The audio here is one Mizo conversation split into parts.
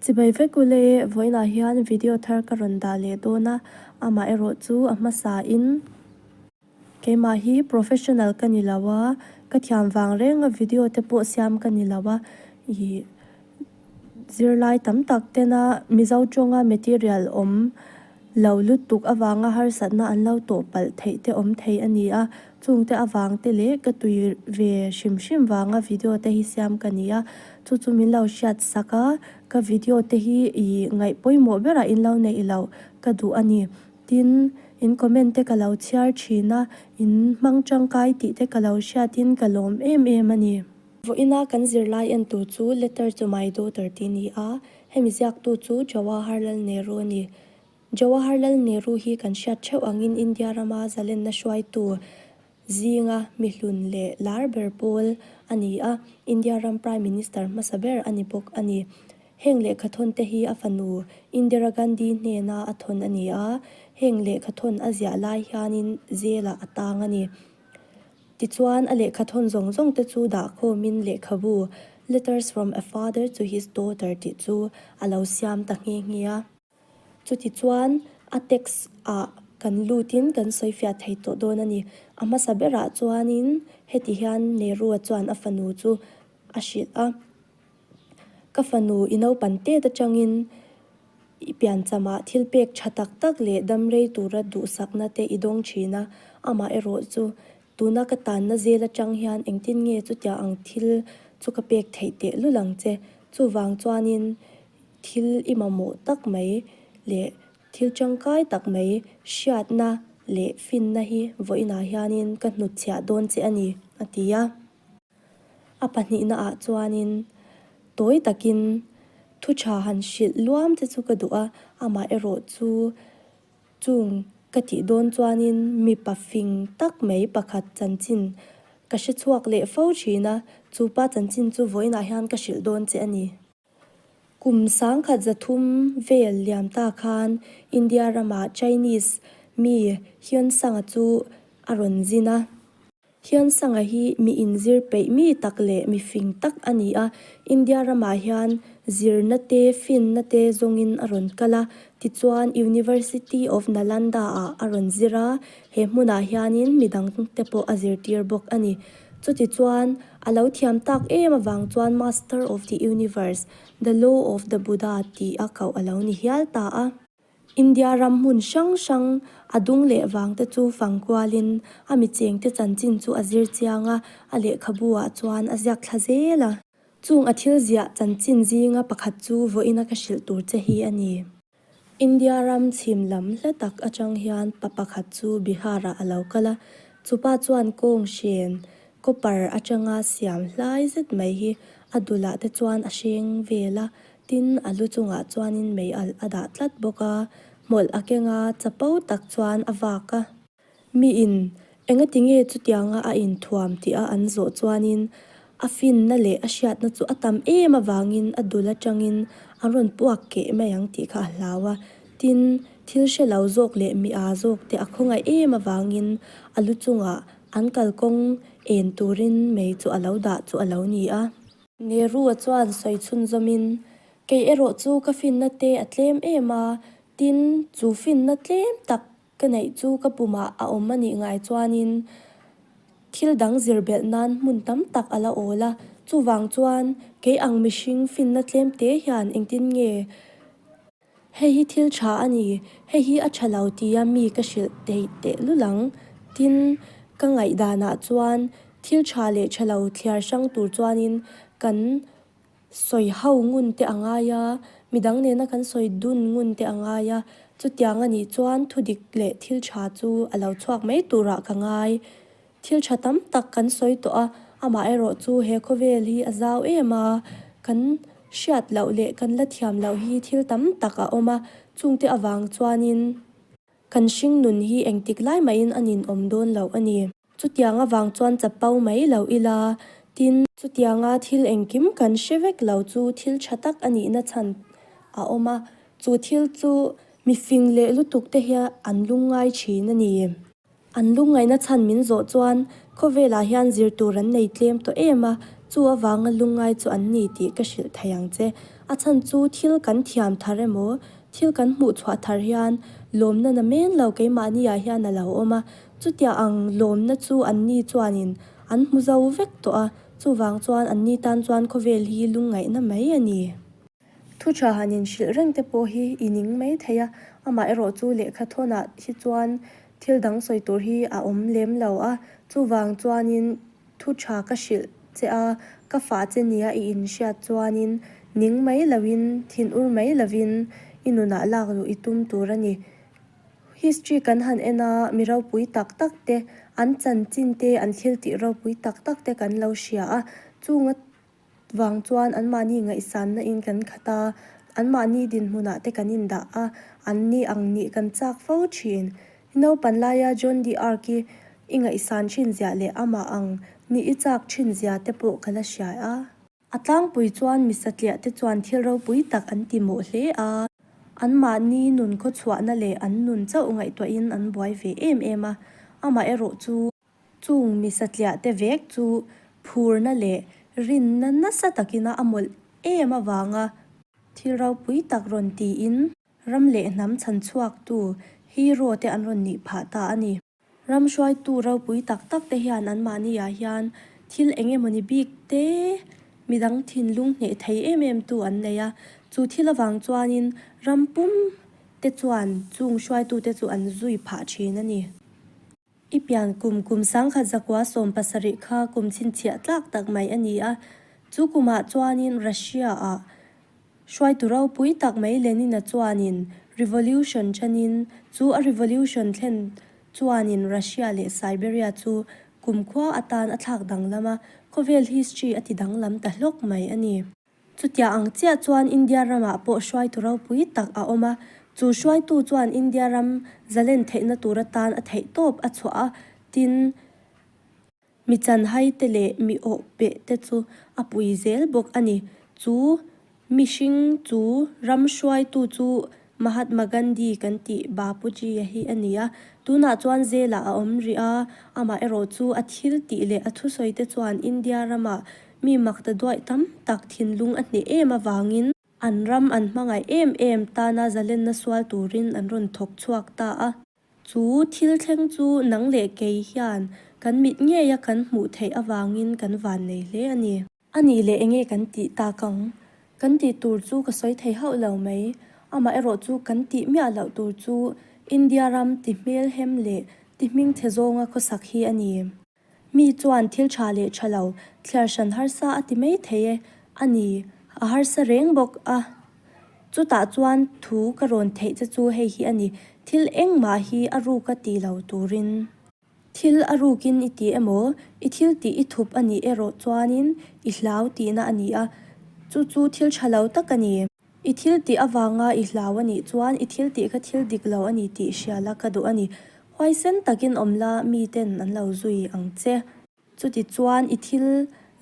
Chibai vek ule, vawiinah hian video thar ka rawn dah leh dawn a, amah erawh chu a hmasa in keimah hi professional ka ni lo a, ka thiam vang reng a video te pawh siam ka ni lo a, ih zirlai tam tak tena Mizo tawnga material awm lo lutuk avanga harsatna an lo tawh palh theih te awm thei a ni a, chungte avang te leh ka tui ve hrim hrim vanga video te hi siam ka ni a, chu chu min lo hriat sak a, ka video te hi ih ngaih pawimawh berah in lo neih loh ka duh a ni, tin, in comment te ka lo chhiar thin a, in hmang tangkai tih te ka lo hriat in ka lawm em em a ni. Vawiina kan zirlai en tur chu letter chu my daughter tih ni a, Hemi ziaktu chu Jawaharlal Nehru a ni. Jawaharlal Nehru hi kan hriat theuh angin India rama zalenna hruaitu zinga mihlun leh lar ber pawl a ni a, India ram Prime Minister hmasa ber a ni bawk a ni. Heng lehkhathawn te hi a fanu Indira Gandhi hnena a thawn a ni a, heng lehkhathawn a ziah lai hianin zelah a tang a ni. Tichuan a lehkha thawn zawng zawng te chu dah khawmin lehkhabu Letters from a Father to his Daughter tih chu a lo siam ta nghe nghe a. Chuti chuan a text ah kan lutin kan sawifiah thei tawh dawn a ni. A hmasa berah chuanin heti hian Nehru-a chuan a fanu chu a hrilh a. Ka fanu i naupan tet atangin i piancham ah thil pek tha tak tak leh damrei tura duhsakna te i dawng thin a, amah erawh chu tuna ka tanna zel atang hian engtin nge chutiang ang thil chu ka pek theih tehlul ang che. Chuvang chuanin thil i mamawh tak mai leh thil tangkai tak mai hriatna leh finna hi vawiinah hianin ka hnutchhiah dawn che a ni, a ti a. A pahnihna ah chuanin tawi takin thuṭha han hrilh luam te chu ka duh a, amah erawh chu chung ka tih dawn chuanin mipa fing tak mai pakhat chanchin ka hre chhuak leh fo ṭhin a, chupa chanchin chu vawiinah hian ka hrilh dawn che a ni. Kum sangkhat zathum vel liam ta khan India rama Chinese mi Hyon Sanga chu a rawn zin a. Hyon Sanga hi mi inzir peih mi tak leh mi fing tak a ni a. India ramah hian zirna te, finna te zawngin a rawn kal a. Tichuan University of Nalanda-ah a rawn zir a, he hmunah hianin midangte pawh a zirtir bawk a ni. Chuti chuan a lo thiam tak em avang chuan Master of the Universe, The Law of the Buddha tih a koh a lo ni hial ta a. India ram hmun hrang hrang a dung leh vang te chu fang kualin a mi cheng te chanchin chu a zir chiang a, a lehkhabu ah chuan a ziak thla zel a. Chung a thil ziah chanchin zinga pakhat chu vawiina ka hrilh tur che hi a ni. India ram chhim lam hle tak atang hian pa pakhat chu Bihar-ah a lo kal a, chupa chuan kawng hrian copper atanga siam hlai zet mai hi a dulh-ah te chuan a hreng vel a, tin a lu chungah chuanin mei alh a dah tlat bawk a, hmawlh a keng a, chapo tak chuan a vak a. Miin, engatinge chutianga a inthuam tih a an zawh chuanin a finna leh a hriatna chu a tam em avangin a dul atangin a rawn puak keh mai ang tih kha a hlau a. Tin, thil hre lo zawk leh mi aa zawk te a khawngaih em avangin a lu chungah an kalkawng en turin mei chu a lo dah chu a lo ni a. Nehru-a chuan sawi chhunzawmin, Kei erawh chu ka finna te a tlem em a, tin, chu finna tlem tak Ka neih chu ka pumah a awm a nih ngai chuanin thil dang zir belh nan hmun tam tak a la awl a. Chuvang chuan kei ang mihring finna tlem te hian engtin nge hei hi thil tha a ni, hei hi a tha lo tia mi ka hrilh theih teh lul ang. Tin, ka ngaihdanah chuan thil tha leh tha lo thliar hrang tur chuanin kan. sawi ho ngun te a ngai a, midang nena kan sawi dun ngun te a ngai a, chutiang a nih chuan thudik leh thil tha chu a lo chhuak mai turah ka ngai. Thil tha tam tak kan sawi tawh a, amah erawh chu he khawvel hi a zau em a, kan hriat loh leh kan la thiam loh hi thil tam tak a awm a, chungte avang chuanin Kan hringnun hi engtik lai mahin an inawm dawn loh a ni. Chutiang avang chuan chapo mai loh ila, tin. Chutianga thil engkim kan hre vek lo chu thil tha tak a nihna chhan a awm a, chu thil chu mifing leh lutuk te hian an lung ngai thin a ni. An lung ngaina chhan min zawh chuan khawvelah hian zir tur an nei tlem tawh em a, chu avanga lung ngai chu an ni tih ka hrilh thei ang che. A chhan chu thil kan thiam thar emaw, Thil kan hmuh chhuah thar hian lawmna na men lo keimahni ah hian a lo awm a, chutia ang lawmna chu an ni chuanin an hmu zo vek tawh a, chuvang chuan an ni tan chuan khawvel hi lungngaihna mai a ni. Thuchah han inhrilh reng te pawh hi i ning mai thei a, amaherawh chu lehkha thawnah hi chuan thil dang sawi tur hi a awm lem lo a, chuvang chuanin. Thu tha ka hrilh che a, ka fa che nia i inhriat chuanin ning mai lovin, thin ur mai lovin i nunah lak duh i tum tur a ni. History kan han en a, mi ropui tak tak te, an chanchin te, an thiltih ropui tak tak te kan lo hria a, chunga. vang chuan anmahni ngaihsannain kan khat a, anmahni dinhmunah te kan indah a, an ni ang nih kan chak fo thin. I naupan laia John D'Arc i i ngaihsan thinzia leh amah ang nih i chak thinzia te pawh ka la hriai a. A tlangpui chuan mi satliah te chuan thil ropui tak an ti mawh hle a, anmahni nun khawchhuahna leh an nun chauh ngaihtuahin an buai ve em em a, amaherawhchu, Chung misatliah te vek chu phurna leh rinna nasa takina a mawlh em avanga thil ropui tak rawn tiin ram leh hnam chhanchhuaktu hero te an rawn nih phah ta a ni. Ram hruaitu ropui tak tak te hian anmahniah hian thil eng emawni bik te midang thinlung hneh thei em em tu an nei a, chu thil avang chuanin ram pum te chuan chung hruaitute chu an zui phah thin a ni. I pian kum, kum sangkhat zakua sawm pasarih kha kum chhinchhiah tlak tak mai a ni a. Chu kumah chuanin Russia-ah hruaitu ropui tak mai Lenina chuanin revolution chanin chu a revolution thlen chuanin Russia leh Siberia chu kum khua atan a thlak danglam a, khawvel history a ti danglam ta hlawk mai a ni. Chutia ang chiah chuan India ramah pawh hruaitu ropui tak a awm a, chu hruaitu chuan India ram zalen theihna tur atan a theih tawp a chhuah a, tin, mi chanhaite leh mi awhpehte chu a pui zel bawk a ni. Chu mihring chu ram hruaitu chu Mahatma Gandhi kan tih Bapuji-a hi a ni a, tunah chuan zêlah a awm rih a, amaherawh chu a thil tih leh a thusawite chuan India rama mi makta duai tam tak thinlung a hneh êm avangin, an ram an hmangaih êm êm tana zalenna sual turin an rawn thawk chhuak ta a. Chu thil thleng chu nang leh kei hian kan mit ngei a kan hmuh theih avangin kan vân nei hle a ni. A nih leh enge kan tih tak ang? Kan tih tur chu ka sawi thei hauh lo mai. Amah erawh chu kan tih miah loh tur chu India ram ti hmelhem leh ti hmingthe zawnga khawsak hi a ni. Mi chuan thil tha leh tha lo, thliar hran harsa a ti mai thei e. A ni, a harsa reng bawk a. Chutah chuan thu ka rawn theih che chu hei hi a ni, thil engmah hi a ruk a ti lo turin. Thil a rukin i ti emaw? I thil tih i thup a nih erawh chuanin i hlau tihna a ni a, chu chu thil tha lo tak a ni. I thil tih avanga i hlau a nih chuan i thil tih ka thil dik lo a ni tih hria la ka duh a ni. Huaisen takin awm la miten an lo zui ang che. Chuti chuan i thil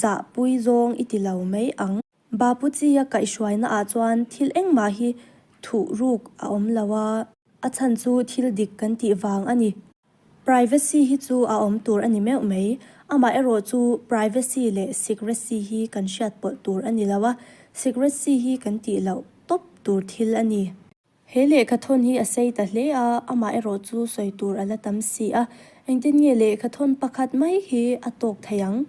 zahpui zawng i ti lo mai ang. Bapuchia kaihhruaina ah chuan thil engmah hi thuh ruk a awm lo a. A chhan chu thil dik kan tih vang a ni. Privacy hi chu a awm tur a ni meuh mai. Amaherawh chu privacy leh secrecy hi kan hriat pawlh tur a ni lo a, secrecy hi kan tih loh tawp tur thil a ni. He lehkhathawn hi a sei ta hle a, amah erawh chu sawi tur a la tam si a, engtin nge lehkhathawn pakhat mai hi a tawk thei ang?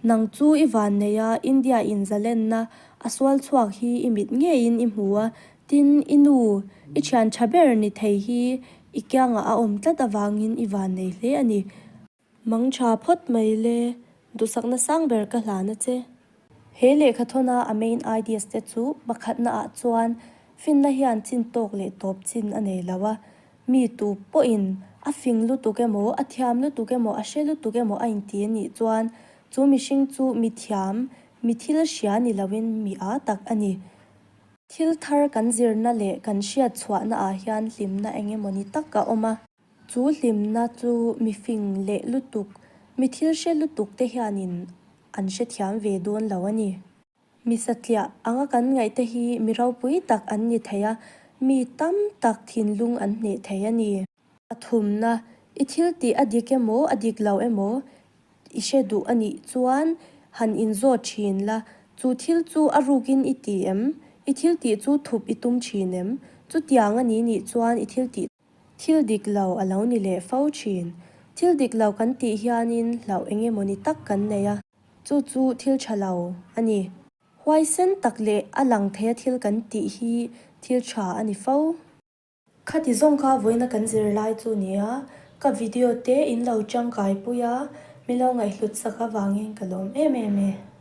Nang chu i vanneia India in zalenna a sual chhuak hi i mit ngeiin i hmu a, tin i nu i thian tha ber ni thei hi i kiangah a awm tlat avangin i vannei hle a ni. Mang tha phawt mai le, duhsakna sang ber ka hlan a che. He lehkha thawna a main ideas te chu hmakhatna ah chuan finna hian chin tawk leh tawp chin a nei lo a, mi tu pawh in a fing lutuk emaw, a thiam lutuk emaw, a hre lutuk emaw a inti a nih chuan chu mihring chu mi thiam, mi thil hria ni lo in mi a tak a ni. Thil thar kan zirna leh kan hriat chhuahna ah hian hlimna eng emaw ni tak a awm a. Chu hlimna chu mifing leh lutuk, mi thil hre lutuk te hianin an hrethiam ve dawn lo a ni. Mi satliah anga kan ngaih te hi mi ropui tak an ni thei a, mi tam tak thinlung an hneh thei a ni. Pathumna, i thil tih a dik emaw a dik lo emaw i hre duh a nih chuan han inzawt thin la, chu thil chu a rukin i ti em? I thil tih chu thup i tum thin em? Chutiang a ni nih chuan i thil tih. Thil dik lo a lo ni leh fo thin. Thil dik lo kan tih hianin hlauh eng emaw ni tak kan nei a, chu chu thil tha lo a ni. Huaisen tak leh a lang theia thil kan tih hi thil tha a ni fo. Khati zawng kha vawiina kan zir lai chu ni a, ka video te in lo tangkai pui a, mi lo ngaihhlut sak avangin ka lawm em em e.